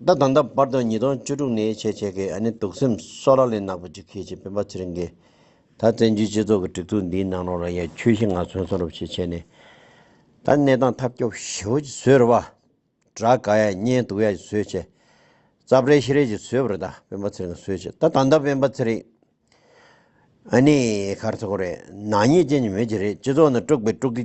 ད་དང་ད་བར་དུ་ཉིས་སྟོང་བཅུ་དྲུག་ནས་ཆེད་མཁས་ཀྱི་ཨ་ནེ་དུག་སེམས་སོགས་ལག་ལེན་ནག་པོ་ཅིག་མཁས་ཅིང་སྤེན་པ་ཚེ་རིང་གིས། ད་བཙན་བྱོལ་སྤྱི་ཚོགས་ཀྱི་སྒྲིག་འཛུགས་འདིའི་ནང་ནོར་བ་ཡང་ཁྱོད་ཤི་ང་གསོན་གསོན་རོབ་ཞིག་བྱས་ནས། ད་གནས་སྟངས་ཐབས་སྐྱོ་ཞེ་བོ་ཅིག་བཟོས་ར་བ། དགྲ་དགའ་ཡ་བསྙེན་སྡུག་ཡ་ཅིག་བཟོས་བྱས། རྩ་བྲལ་ཤི་རལ་ཅིག་བཟོས་པར་ད་སྤེན་པ་ཚེ་རིང་གིས་བཟོས་བྱས་ད་དང་ད་སྤེན་པ་ཚེ་རིང། ཨ་ནེ། ཁར་ཚོ་ཁོ་རེད་ནག་ཉེས་ཅན་གྱི་མི་ཅིག་རེད་སྤྱི་ཚོགས་ནང་དཀྲུགས་པའི་དཀྲུགས་ཀྱི་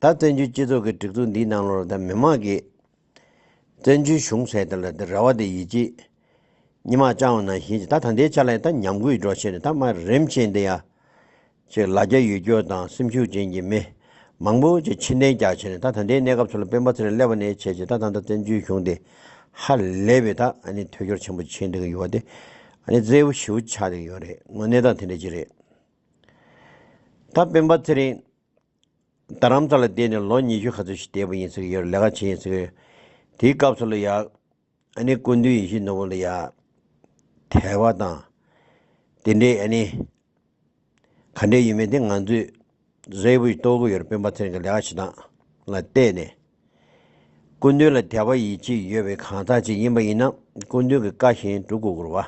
ད་བཙན་བྱོལ་སྤྱི་ཚོགས་ཀྱི་སྒྲིག་འཛུགས་འདིའི་ནང་ལོར་ད་མི་མང་གིས་བཙན་བྱོལ་གཞུང་ཟེར་ད་ལ་ད་ར་བ་དེ་ཡིད་ཆེས་ཉི་མ་ལྕང་བ་ནང་བཞིན་གྱི་ད་ད་འདའི་ཆ་ལ་ད་ཉམས་རྒུད་འགྲོ་ཆེད་དུ་ད་དམའ་རིམ་ཆེན་འདི་ཡ་ཅིག་ལ་རྒྱ་ཡུལ་སྐྱོར་དང་སེམས་ཤུགས་ཅན་གྱི་མི་མང་པོ་ཅིག་ཕྱིར་འདྲེན་རྒྱག་ཆེད་ནས་ད་ད་འདའི་གནས་སྐབས་ཚུར་ལ་སྤེན་པ་ཚེ་རིང་ཀླད་པ་ནས་བྱས་རྗེས་ད་ད་ད་བཙན་བྱོལ་གཞུང་འདི་ཧ་ལས་པའི་ད་ནི་ཐོས་སྐྱོར་ཆེན་པོ་བྱེད་འདོད་ཀྱི་ཡོད་པ་དེ་ནི་རྩེ་བོ་བྱིའུ་ཆགས་འདོད་ཀྱི་ཡོད་རེད་དངོས་གནས་ད་དེ་འདྲ་ཅིག་རེད་ད་སྤེན་པ་ཚེ་རིང། རྡ་རམ་ས་ལ་བསྡད་ནས་ལོ་ཉི་ཤུ་ག་ཚོད་ཞིག་བསྡད་པ་ཡིན་ཟེར་གྱི་ཡོད་རེད་ལས་ཀ་བྱེད་ཡིན་ཟེར་གྱི་ཡོད། དེའི་སྐབས་སུ་ལ་ཡག་ཨ་ནི་སྐུ་མདུན་ཡེ་ཤེས་ནོར་བུ་ལ་ཡག་དལ་བ་དང། དེ་འདྲའི་ཨ་ནི། ག་འདྲའི་ཡོད་མེད་དེ་ང་ཚོས་གཟའི་བུ་ཞིག་གཏོར་གི་ཡོད་རེད་སྤེན་པ་ཚེ་རིང་གི་ལས་ཀ་བྱེད་སྟངས་ལ་བལྟས་ནས། སྐུ་མདུན་ལ་དད་པ་ཡིད་ཆེས་ཡོད་པའི་གང་ཟག་ཅིག་ཡིན་པ་ཡིན་ན་སྐུ་མདུན་གྱི་བཀའ་བཞིན་སྒྲུབ་དགོས་སྐོར་བ།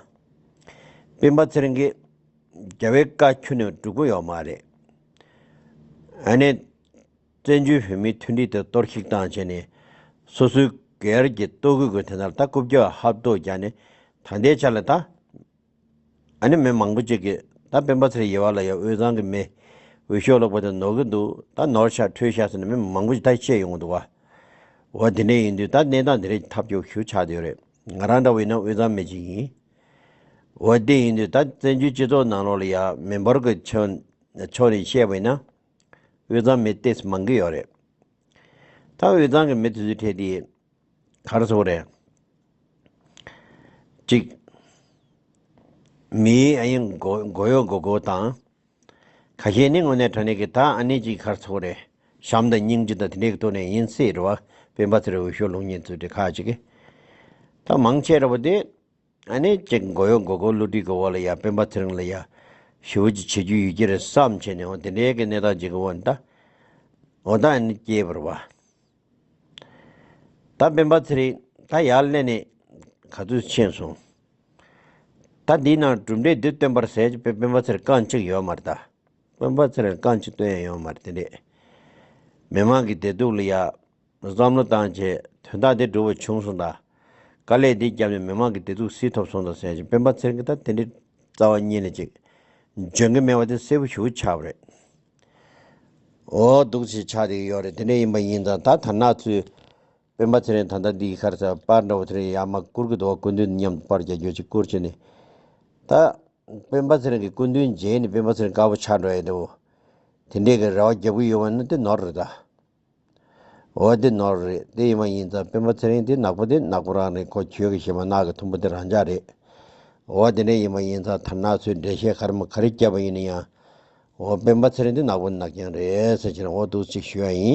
སྤེན་པ་ཚེ་རིང་གིས། རྒྱལ་བའི་བཀའ་ཁྱོན་ནས་སྒྲུབ་དགོས་ཡོད་མ་རེད། ཨ་ནེ། བཙན་བྱོལ་བོད་མིའི་མཐུན་སྒྲིལ་དེ་གཏོར་བཤིག་བཏང་བྱས་ནས། སོ་སོའི་སྒེར་གྱི་ལྟོ་གོས་ཀྱི་དེ་ད་ལྟ་རྐུབ་བཀྱག་ཧབ་ལྟོ་རྒྱག་ནས་ད་ལྟའི་ཆ་ལ་ད། ཨ་ནི་མི་མང་པོ་ཅིག་གིས་ད་སྤེན་པ་ཚེ་རིང་ཡེར་བ་ལ་ཡང་དབུས་གཙང་གི་མི་འོས་ཤོག་ལོག་པ་དེ་ནོར་གི་འདུག་ད་ནོར་ཤག་འཕྲོད་ཤག་ཟེར་ནས་མི་མང་པོ་ཅིག་ད་ཤེས་ཡོང་གི་འདུག་བ། འོ་དེ་འདྲ་ཡིན་དུས་ད་གནས་སྟངས་དེ་རིགས་ཐབས་སྐྱོ་ཤུགས་ཆགས་ཡོད་རེད། ང་རང་འདྲ་བོ་ཡིན་ན་དབུས་གཙང་མི་ཅིག་ཡིན། འོ་དེ་ཡིན་དུས་ད་བཙན་བྱོལ་སྤྱི་ཚོགས་ནང་ལོག་ལ་ཡང་མི་འབོར་གི་ཕྱོགས་ནས་བཤད་པ་ཡིན་ན། དབུས་གཙང་མི་ལྟས་སུ་མང་གི་ཡོད་རེད། ད་དབུས་གཙང་གི་མི་དེ་ཚོའི་གྲས་དེ། གར་སོགས་རེ། གཅིག། མིའི་ཨ་ཡིན་མགོ་ཡོ་མགོ་གོ་དང། ཁ་ཞེ་ནི་དངོས་གནས་དྲ་གནས་ཀྱི་ད་ཨ་ནི་ཅིག་གར་སོགས་རེ། བྱམས་དང་སྙིང་རྗེ་དང་དེ་འདྲའི་གཏོ་ནས་ཡིན་སྲིད་རེ་བ། དཔེ་འབའ་ཚེ་རེ་འོས་ཤོག་ལུང་ཉན་ཚུལ་དེ་ཁ་ཅིག། ད་མང་ཆེ་རེ་བ་དེ། ཨ་ནེ་ཅེ་མགོ་ཡོ་མགོ་མགོ་བསླུ་བྲིད་ཀྱི་འོག་ལ་ཡ་སྤེན་པ་ཚེ་རིང་ལ་ཡ། ཞི་བོ་ཅི་བྱེད་རྒྱུ་ཡོད་ཀྱི་རེད་བསམ་བྱས་ནས་འོང་དེ་འདྲའི་གི་གནས་སྟངས་ཅིག་གི་འོག་ནས་ད། འོ་ད་ཨ་ནེ་ཅེ་བར་བ། ད་སྤེན་པ་ཚེ་རིང་ད་ཡར་སླེབས་ནས་ག་ཚོད་ཕྱིན་སོང། ད་འདིའི་ནང་གྲུབ་འབྲས་འདི་སྟོན་པར་ཟེར་པའི་སྤེན་པ་ཚེ་རིང་རྐང་གཅིག་ཡོད་མ་རེད་ད། སྤེན་པ་ཚེ་རིང་རྐང་གཅིག་སྟོན་ཡ་ཡོད་མ་རེད་དེ་འདྲས། མི་མང་གི་བདེ་སྡུག་ལ་ཡ། བསམ་བློ་བཏང་རྗེས་དོན་དག་འདི་འགྲུབ་པ་བྱུང་སོང་ད། དཀའ་ལས་འདི་བརྒྱབ་ནས་མི་མང་གི་བདེ་སྡུག་སེལ་ཐོབ་སོང་ད་ཟེར་ཞིང་སྤེན་པ་ཚེར་གི་ད་དེ་འདྲའི་རྩ་བ་གཉིས་ལས་ཅིག་འཇོན་གི་མེད་པ་དེ་གསལ་པོ་ཞུ་ཆགས་པ་རེད། འོ་སྡུག་ཆེ་ཆགས་དེ་གི་ཡོད་རེད་དེ་འདྲ་ཡིན་པ་ཡིན་ཙང་ད་དར་ནག་ཚོས་སྤེན་པ་ཚེར་ནས་ད་ལྟ་འདི་གི་ཁར་ས་པར་འདྲ་བོ་དེ་རིང་ཡར་མ་བསྐུར་གི་འདུག་བ་སྐུ་མདུན་དང་མཉམ་དུ་པར་རྒྱག་རྒྱུ་ཅིག་བསྐུར་བྱས་ནས་ད། སྤེན་པ་ཚེར་གི་སྐུ་མདུན་མཇལ་ནས་སྤེན་པ་ཚེར་དཀར་པོ་ཆགས་འགྲོ་ཡས་འདུག་དེ་འདྲས་གི་རེ་བ་བརྒྱབ་གི་ཡོད་པ་ནི་དེ་ནོར་རེད་ད། འོ་འདི་ནོར་རེད་དེ་ཡིན་མ་ཡིན་ཙང་སྤེན་པ་ཚེ་རིང་དེ་ནག་པོ་དེ་ནག་པོ་རང་རེད་ཁོ་གྱོད་གི་ཞེ་མ་ནག་གི་ཐུམ་པོ་དེ་རང་ཅག་རེད་འོ་དེ་འདྲ་ཡིན་མ་ཡིན་ཙང་དར་ནག་ཚོའི་འགྲེལ་བཤད་ག་རེ་མོ་ག་རེ་བསྐྱལ་བ་ཡིན་ན་ཡང་འོ་སྤེན་པ་ཚེ་རིང་དེ་ནག་པོ་ནག་རྐྱང་རེད་ཟེར་ཕྱིར་འོ་འདུག་ཅིག་ཞུ་ཡ་ཡིན།